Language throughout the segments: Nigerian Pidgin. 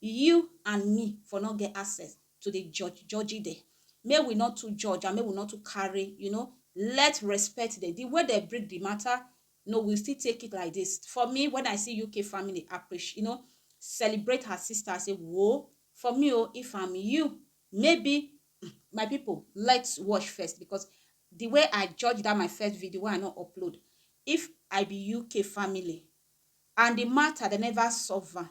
You and me for no get access to dey judge judgy dem, make we no too judge and make we no too carry you know let respect dem the way dem break the matter no we still take it like this for me when I see UK family appreci you know celebrate her sister I say woo for me o if I'm you maybe um my people let watch first because the way I judge that my first video wey I no upload if I be UK family and the matter dem never solve am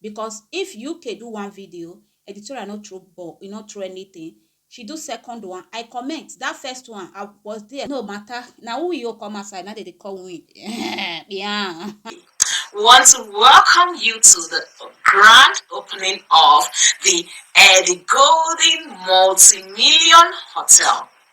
Because if UK do one video, editorial no throw ball, e no throw anything, she do second one, I comment, that first one, I was there. No matter, na who you come outside, na dey dey call win. Yeah. We want to welcome you to the grand opening of the Eddie Golden Multi-Million Hotel.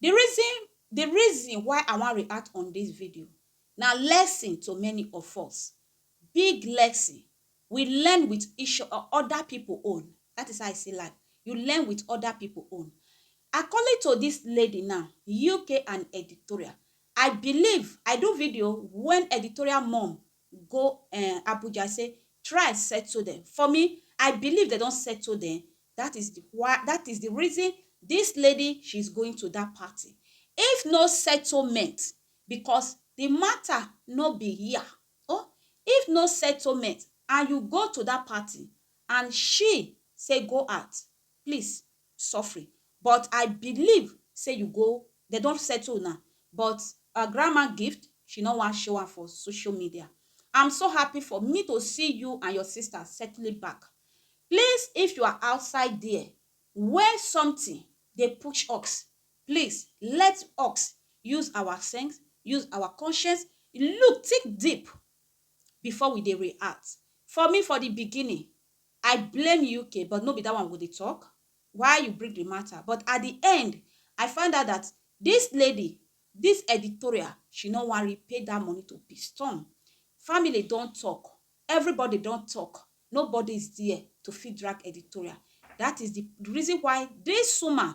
The reason, the reason why I wan react on this video na lesson to many of us. Big lesson. We learn with each o- other people own. That is how I see life. You learn with other people own. According to this lady now, UK and editorial, I believe I do video when editorial mom go um Abuja say try settle dem for me I believe dem don settle dem that is the why that is the reason this lady she is going to that party if no settlement because the matter no be here oh if no settlement and you go to that party and she say go out please suffering but I believe say you go dem don settle una but ur grandma gift she no wan show am for social media I'm so happy for me to see you and your sister settling back please if you are outside there where something dey push ux please let ux use our sense use our conscience look think deep before we dey react for me for the beginning I blame UK but no be that one we go dey talk, why you bring the matter but at the end I find out that this lady, this editorial she no wan repay that money to Piston, family don talk, everybody don talk nobody is there to fit drag editorial that is the reason why this woman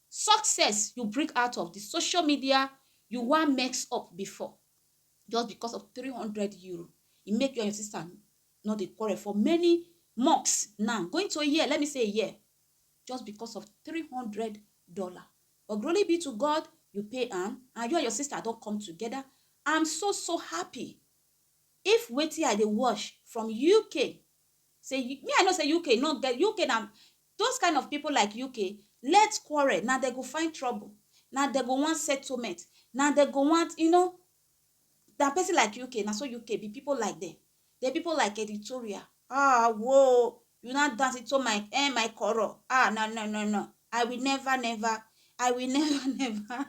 success you bring out of the social media you wan mess up before just because of 300 euro e make you and your sister no dey quarrel for many months now going to a year let me say a year just because of 300 dollar but glory be to god you pay am and you and your sister don come together i'm so so happy if wetin i dey watch from uk say me i know say uk no get uk na Those kind of people like UK let quarrel na dem go find trouble na dem go want settlement na dem go want you know na person like UK na so UK be people like them the people like editorial ah whoa you now dance into my eh my quarrel ah no no no no I will never never I will never never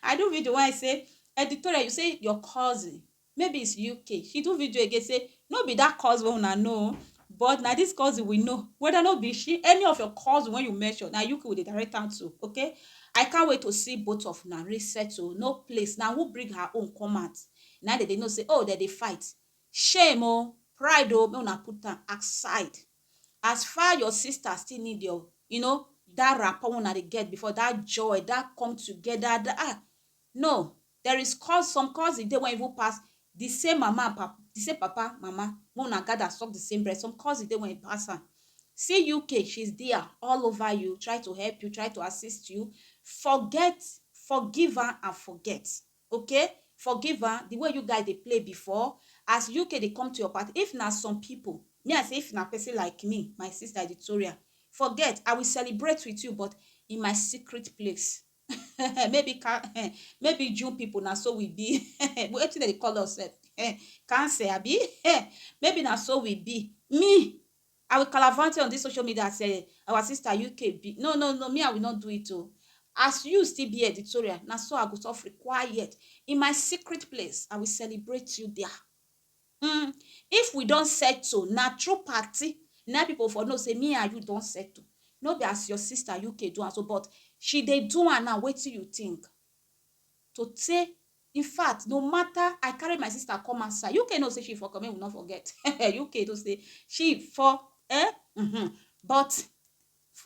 I do video when I say editorial you say your cousin Maybe it's UK. She do video again say, no be that cause wey una know, but na this cause we know. Whether no be she, any of your cause when you mention, na UK we dey direct am to, okay? I can't wait to see both of una re settle. No place. Na who bring her own come out? Na dem dey know say, oh, dem dey fight. Shame oh, pride oh, make una put am aside. As far your sister still need your, you know, that rapport una dey get before, that joy, that come together, that ah, no, There is cous some cousin dey wen even pass di same mama and pap di same papa mama make una gather suck di same breast some cousin dey wen e pass am see UK she is dia all over you try to help you try to assist you forget forgive am and forget okay forgive am di way you guy dey play before as UK dey come to your party if na some pipo me I say if na person like me my sister Editoria forget I will celebrate with you but in my secret place. maybe ka um maybe Jew people na so we be um wetin dem dey call us sef um cancel abi um maybe na so we be me I will calavant you on this social media as um our sister UK be no no no me I will not do it o as you still be editorial na so I go suffer quiet in my secret place I will celebrate you there Umm if we don settle na through party na people for know say me and you don settle no be as your sister UK do am so but she dey do am now wetin you think to say infact no matter I carry my sister come outside UK know say she for come make we no forget eh UK know say she for eh uhmm but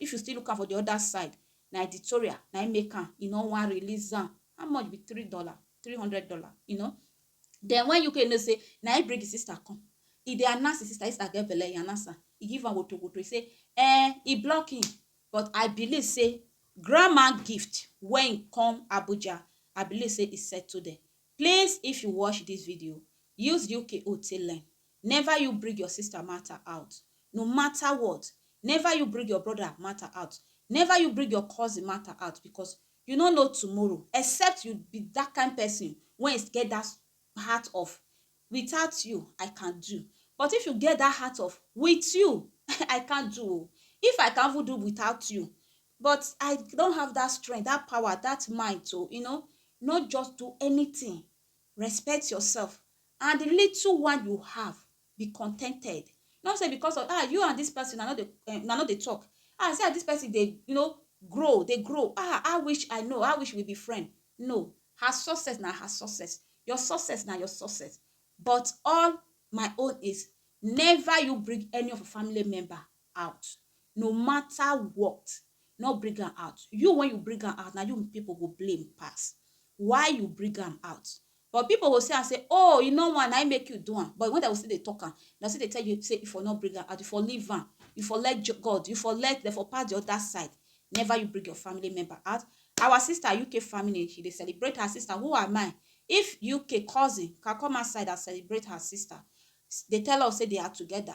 if you still look am for the other side na editorial na him make am e no wan release am how much be three dollar three hundred dollar you know Den wen Yuke know sey na im bring im sister come, e dey announce im sister, im sister get belle, e announce am, e give am wotowoto, e sey um e block im but I believe sey grandma gift wen e come Abuja, I believe sey e settle dem. Please if you watch dis video, use Yuke own take learn, never you bring your sister matter out, no matter what, never you bring your brother matter out, never you bring your cousin matter out because You no know tomorrow except you be that kind person wey get that heart of without you I can do but if you get that heart of with you I can't do o if I can even do without you but I don't have that strength, that power, that mind to you know not just do anything respect yourself and the little one you have be contented. Not say because of ah you and this person una no dey um una no dey talk ah see as this person dey you know grow dey grow ah I wish I know I wish we be friend no her success na her success your success na your success but all my own is never you bring any of your family member out no matter what no bring am out you when you bring am out na you people go blame pass why you bring am out but people go see am say oh you no wan na him make you do am but when dem go still dey talk am dem still dey tell you say you for no bring am out you for leave am you for let jo God you for let dem for pass the other side never you bring your family member out our sister UK family she dey celebrate her sister who am I if UK cousin can come outside and celebrate her sister dey tell us say they are together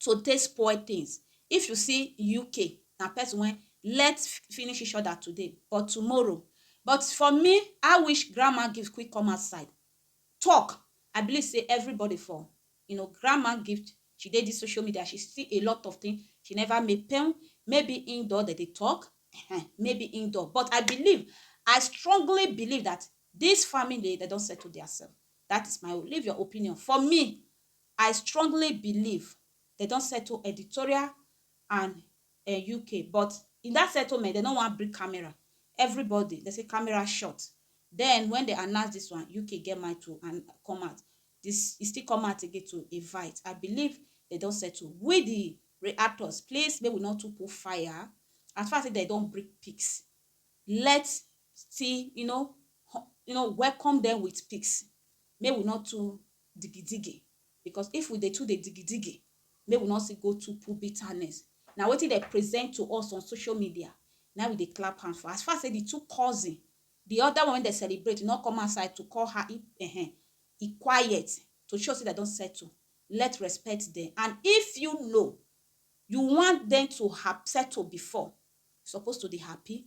to take spoil things. If you see UK, na person wey let finish each other today but tomorrow. But for me, I wish grandma gift quick come outside talk. I believe sey everybody for you know grandma gift, she dey dis social media, she see a lot of things, she never make pain. Maybe im don dey dey talk ehen, maybe im don. But I believe, I strongly believe dat dis family, dem don settle their self. Dat is my own. Leave your opinion. For me, I strongly believe dem don settle editorial and um UK but in that settlement dem no wan bring camera everybody dem say camera short then when dem announce this one UK get mind to and come out this e still come out again to invite I believe dem don settle we the reactors please make we no too put fire as far as say dem don bring pics let's still you know you know welcome them with pics make we no too digidigi because if we dey too dey digidigi make we no still go too put bitterness na wetin dem present to us on social media na we dey clap hand for as far say the two cousin the other one wey dem celebrate no come outside to call her e um e quiet to show say dem don settle let respect dem and if you know you want dem to hap settle before you suppose to dey happy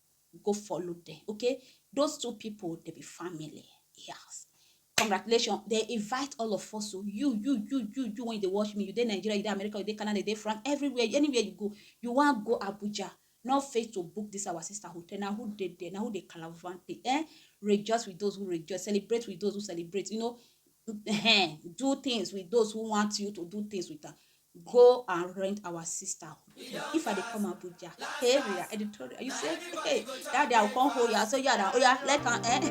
go follow them okay those two people they be family yes congratulations they invite all of us so you you you you you when they watch me you dey nigeria you dey america you dey canada you dey france everywhere anywhere you go you wan go abuja no fail to book this our sister hotel na who dey there na who dey calavante eh rejoice with those who rejoice celebrate with those who celebrate you know do things with those who want you to do things with them go and rent our sister if i dey come abuja hey we are editorial you say hey that day i come hold you so yeah oh yeah let am eh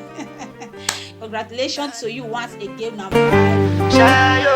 congratulations to you once again na. Shayo.